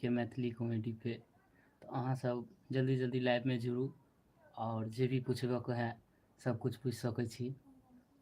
के मैथिली कॉमेडी पे तऽ अहाँ सब जल्दी जल्दी लाइव में जुड़ू और जे भी पूछबक है सब कुछ पूछ सकै छी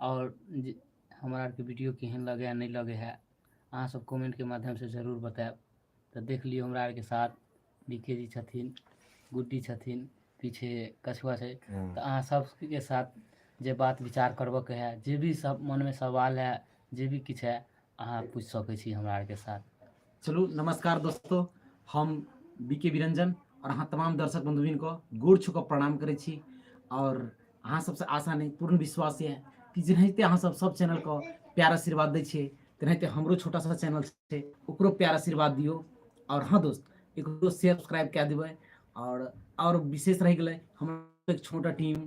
और हमरा आरके वीडियो केहन लगे है नहीं लगे है अहाँ सब कमेंट के माध्यम से जरूर बतायब तऽ देख लियौ हमरा आरके साथ बीके जी छथिन गुड्डी छथिन पीछे कछुआ छै हम्म। तऽ अहाँ सबके साथ जे बात विचार करबक है जे भी सब मन में सवाल है जे भी किछु है अहाँ पूछ सकै छी हमरा आरके साथ चलू नमस्कार दोस्तों हम बी के विरंजन और अहाँ तमाम दर्शक बंधुबिन को गोड़ छू कऽ प्रणाम करै छी और अहाँ सबसँ आशा नहि पूर्ण विश्वास यऽ कि जेनाहिते अहाँ सब सब चैनल को प्यार आशीर्वाद दै छियै तेनाहिते हमरो छोटा सा चैनल छै ओकरो प्यार आशीर्वाद दियौ और हाँ दोस्त एकरो शेयर सब्सक्राइब कए देबै और और विशेष रहि गेलै हमर एक छोटा टीम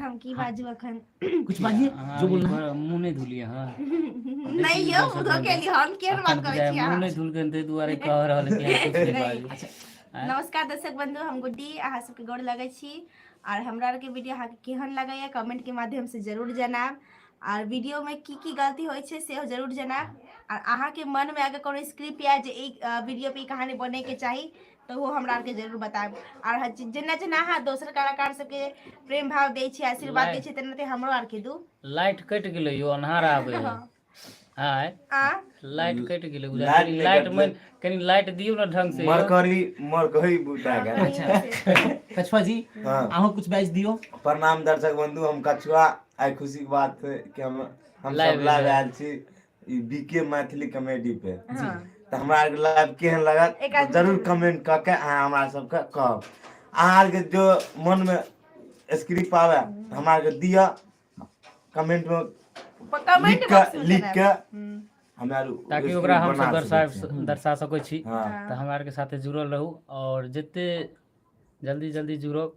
हम की हँ बाजू अखन कुछ किया बाजिये अहाँ जो अभी बोलना है भ- मुँह नहि धुलियै हँ देखी नहि यौ इधर से मुधो बोलबै केली हम केहन बात अखन करै बुझाय छी मुँह अहाँ नहि धुलकै ताहि दुआरे कह रहल है कि अहाँ कुछ नहि नहि बाजू अच्छा आँय नमस्कार दर्शक बंधु हम गुड्डी अहाँ सबके गोर लगै छी आर हमरा आरके वीडियो अहाँके केहन लगैया कमेंट के माध्यम से जरूर जनाब आर वीडियो में की की गलती होइ छै सेहो जरूर जनाब आर अहाँके मन में अगर कोनो स्क्रिप्ट या जे ई वीडियो पे ई कहानी बने के चाही तऽ ओहो हमरा आरके जरूर बतायब आर हर चीज जेना जेना अहाँ दोसर कलाकार सबके प्रेम भाव दै छियै आशीर्वाद दै लाइ- छियै तेनाहिते हमरो आरके दू लाइट कटि गेलै यौ अन्हार आबै है आँय आ लाइट कटि गेलै बुझाइ लाइट कनि नहि लाइट कटलै। माइन कनि लाइट दियौ ने ढंग से यौ। मरकरी मरकरी बुता गेल कछुआ जी हाँ। अहूँ कुछ बाजि दियौ प्रणाम दर्शक बंधु हम कछुआ आइ खुशी के बात है कि हम हम लाइव सब लाइव एलियै। आयल छी ई बी के मैथिली कॉमेडी पे जी हँ तऽ हमरा आरके लाइव केहन लागत एक तऽ आदमी जरूर चलि जायब कमेन्ट कऽ के अहाँ हमरा सबके कहब अहाँ आरके जो मोनमे स्क्रिप आबय तऽ हमरा आरके दिअ कमेन्टमे कमेंट लिखके बॉक्स मे चलि आयब लिखके हूँ हमरा आर ताकि ओकरा स्क्रिप्ट हमसभ बना दर्शा सकै छियै। दर्शा सकै छी हँ तऽ हमरा आरके साथे जुड़ल रहू आओर जते जल्दी जल्दी जुड़ब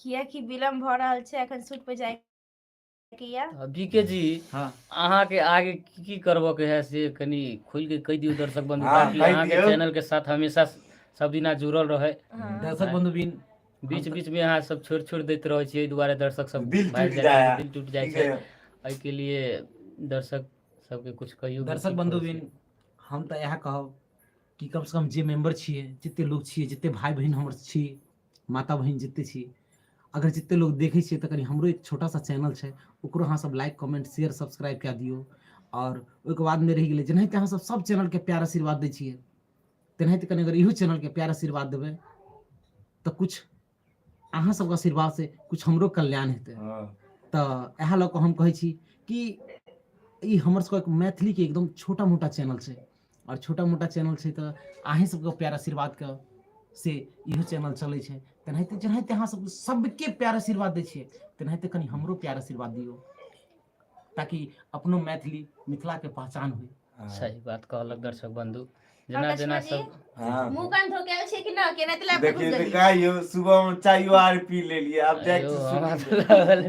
कियकि विलम्ब भऽ रहल छै एखन सुट पर जाय किया बी के जी हँ अहाँके आगे की की करबऽ के है से कनि खुल के कहि दियौ दर्शक बंधु हाँ, ताकि कहि अहाँके दियौ। चैनल के साथ हमेशा सब दिना जुड़ल रहे हाँ। दर्शक बंधु बिन बीच बीच में अहाँ सब छोड़ छोड़ देते रहे छियै एहि दुआरे दर्शक सब दिल भागि टूट जाइया, जाइया दिल टूट जाइ ठीक छै है। एहि के लिए दर्शक सबके कुछ कहियो दर्शक बंधु बिन हम तऽ इएह कहब कि कम से कम जे मेंबर छियै जते लोग छियै जते भाई बहन हमर छी माता बहन जितने छी अगर जितने लोग देखे छे तो कहीं हमरो एक छोटा सा चैनल है ओकरो अहाँ सब लाइक कमेंट शेयर सब्सक्राइब कए दियो और ओहिके बाद में रह गए जेनाहिते अहाँ सब सब चैनल के प्यार आशीर्वाद दे छे तेनाहिते कहीं अगर इहो चैनल के प्यार आशीर्वाद देवे तो कुछ अहाँ सब आशीर्वाद से कुछ हमरो कल्याण हेतु हाँ। तो यह लऽ हम कहे कि ई हमर सबके मैथिली के एकदम छोटा मोटा चैनल है आओर छोटा मोटा चैनल छै तऽ अहीँ सबके प्यार आशीर्वादके से इहो चैनल चलै छै तेनाहिते जेनाहिते अहाँ सब सबके प्यार आशीर्वाद दै छियै तेनाहिते कनि हमरो प्यार आशीर्वाद दियौ ताकि अपनो मैथिली मिथिलाके पहचान होइ हँ। सही बात कहलक दर्शक बंधु और जेना लक्ष्मण जेना जी सब हँ। मुंह कान धो के आयल छियै कि ना केना तले धो देखिए देलियै कहियो सुबह में चाय आर पी लेलिए अब जाए अयो, हमरा तऽ लागल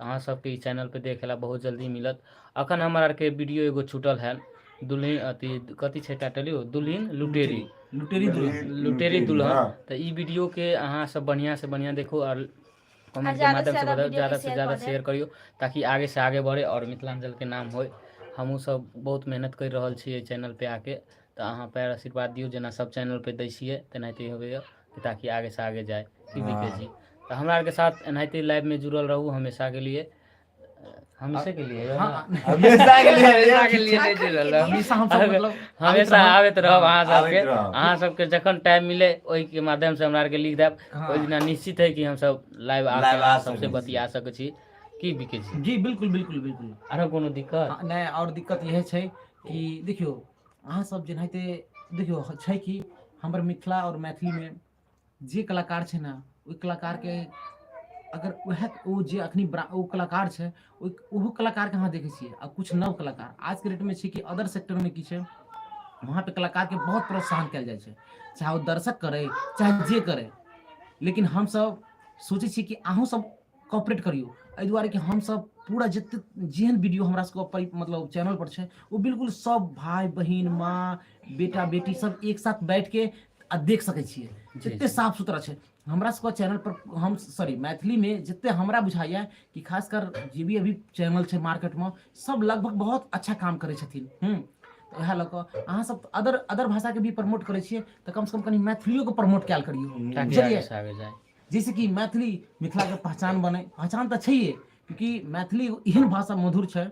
अहाँ सबके ई चैनल पर देखे ला बहुत जल्दी मिलत अखन हमर आर के वीडियो एगो छूटल है दुल्हन अथी कथी छै टाइटल यौ दुल्हन लुटेरी लुटेरी दुल्हन लुटेरी दुल्हन तऽ ई वीडियो के अहाँ सब बढ़िया से बढ़िया देखो और कमेंट के माध्यम से बताओ ज्यादा से ज्यादा शेयर करियो ताकि आगे से आगे बढ़े और मिथिलांचल के नाम होय हमहूँ सब बहुत मेहनत कर रहल छी चैनल पे आके तऽ अहाँ पैर आशीर्वाद दियौ जेना सब चैनल पे दै छियै तेनाहिते होबैया ताकि आगे से आगे जाय की भी कहै छी हँ तऽ हमरा आरके साथ एनाहिते लाइफमे जुड़ल रहू हमेशाके लिए हमेशे के लिए यौ हँ, ने? हमेशा के लिए हमेशा के लिए नहि जुड़ल रहब। हमेशा हमसब अगर- मतलब हमेशा आबैत रहब अहाँ आबैत सबके रहब। अहाँ सबके जखन टाइम मिले ओहिके माध्यम से हमरा आरके लिख देब हँ। ओहि दिना निश्चित है कि हमसब लाइव आके Live आ अहाँ सबसे सकै छी। बतिया सकै छी की बिकै छी जी बिल्कुल बिल्कुल बिल्कुल आरो कोनो दिक्कत हँ, नहि आओर दिक्कत इहे छै कि देखियौ अहाँसभ जेनाहिते देखियौ छै कि हमर मिथिला आओर मैथिलीमे जे कलाकार छै ने ओहि कलाकारके अगर उएह ओ जे अखनी ओ कलाकार छै ओ ओहो कलाकारके अहाँ देखै छियै आ किछु नव कलाकार आजके डेटमे छै कि अदर सेक्टरमे की छै वहाँ पे कलाकार के बहुत प्रोत्साहन कयल जाइ छै चाहे ओ दर्शक करै चाहे जे करै लेकिन हमसभ सोचै छियै कि अहूँसभ कॉपरेट करियौ एहि दुआरे कि हमसभ पूरा जते जेहन वीडियो हमरा सबके मतलब चैनल पर छै ओ बिल्कुल सब भाई बहन माँ बेटा बेटी सब एक साथ बैठ के आ देख सकै छियै जते साफ सुथरा छै हमरा सबके चैनल पर हम सॉरी मैथिली में जते हमरा बुझाइए कि खासकर जे भी अभी चैनल छै मार्केट में सब लगभग बहुत अच्छा काम करै छथिन हम्म, तऽ वएह लऽ कऽ अहाँ सब अदर अदर भाषाके भी प्रमोट करै छियै तऽ कमसँ कम कनि मैथिलियोके प्रमोट कयल करियौ बुझलियै जैसे कि मैथिली मिथिलाके पहचान बनै पहचान तऽ छैहे क्यूकि मैथिली एगो एहन भाषा मधुर छै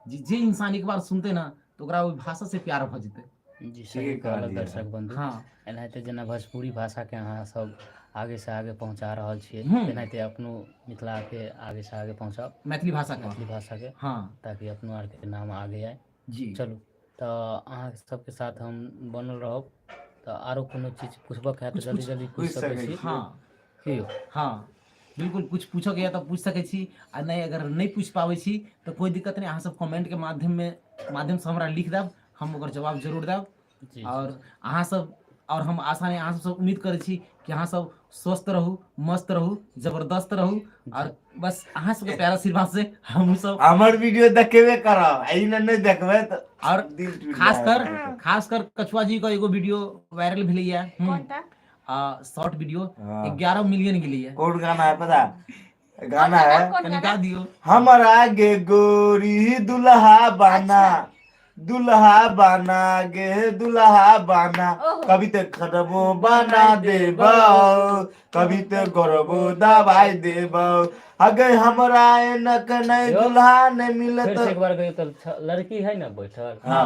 जे जे इंसान एक बार सुनतै ने तऽ ओकरा ओहि भाषा से प्यार भऽ जेतै जी सही ठीके कहलक कहलियै दर्शक बंधु हँ एनाहिते जेना भोजपुरी भाषाके अहाँसभ आगेसँ आगे पहुँचा रहल छियै हूँ तेनाहिते अपनो मिथिलाके आगेसँ आगे पहुँचाउ मैथिली भाषाके मैथिली भाषाके हँ ताकि अपनो आरके नाम आगे आइ जी चलू तऽ अहाँ सबके साथ हम बनल रहब तऽ आरो कोनो चीज पुछबक हए तऽ कुछ जल्दी कुछ जल्दी पूछि सकै छी हँ की यौ हँ बिल्कुल कुछ पूछके यऽ तऽ पूछि सकै छी आ नहि अगर नहि पूछि पाबै छी तऽ कोइ दिक्कत नहि अहाँसभ कमेन्टके माध्यममे माध्यमसँ हमरा लिख देब हम ओकर जवाब जरूर देब जी जी आओर जी अहाँसभ आओर हम आशा नहि अहाँसभसँ उम्मीद करै छी कि अहाँसभ स्वस्थ रहू मस्त रहू जबरदस्त रहू आओर बस अहाँ सबके प्यारा आशीर्वाद से हमहूँ सब हमर वीडियो देखेबे करब आ ई ने नहि देखबै तऽ आओर दिल टूटि खास जायत कर अहाँके। खास कर कछुआ जी के एगो वीडियो वायरल भेलैया हम्म, कोनटा आ शॉर्ट वीडियो हाँ। एगारह मिलियन गेलैया कोन गाना है पता ई कोन गाना गाना है कोन कनि गाना गा दियौ हमर आगे गोरी दुल्हा बाना अच्छा। दुल्हा बाना गे दुल्हा बाना ओहो। कभी ते खरबो बना देबौ कभी ते गरबो दबाई देबौ अगे हमरा एनक नै यौ। दुल्हा नै मिलत फेर से एक बार कहियौ तऽ छ- लड़की है ने बैठल हाँ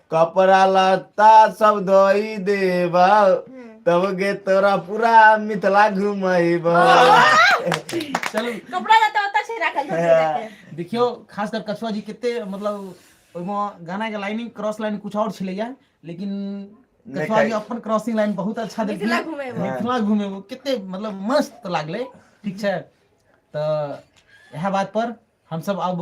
कपड़ा लत्ता सब धोइ देबौ तब गे तोरा पूरा मिथिला घुमैबौ चलू कपड़ा लत्ता ओतऽ छै राखल धोती जाके। देखियौ खास कर कछुआ जी कते मतलब ओहिमे गाना के लाइनिंग क्रॉस लाइन कुछ और छलैया लेकिन नहि कछुआ जी खाइ- अपन क्रॉसिंग लाइन बहुत अच्छा देलखिन मिथिला घुमेबो। मिथिला घुमेबो कते मतलब मस्त लागलै ठीक छै तऽ इएह बात पर हमसब अब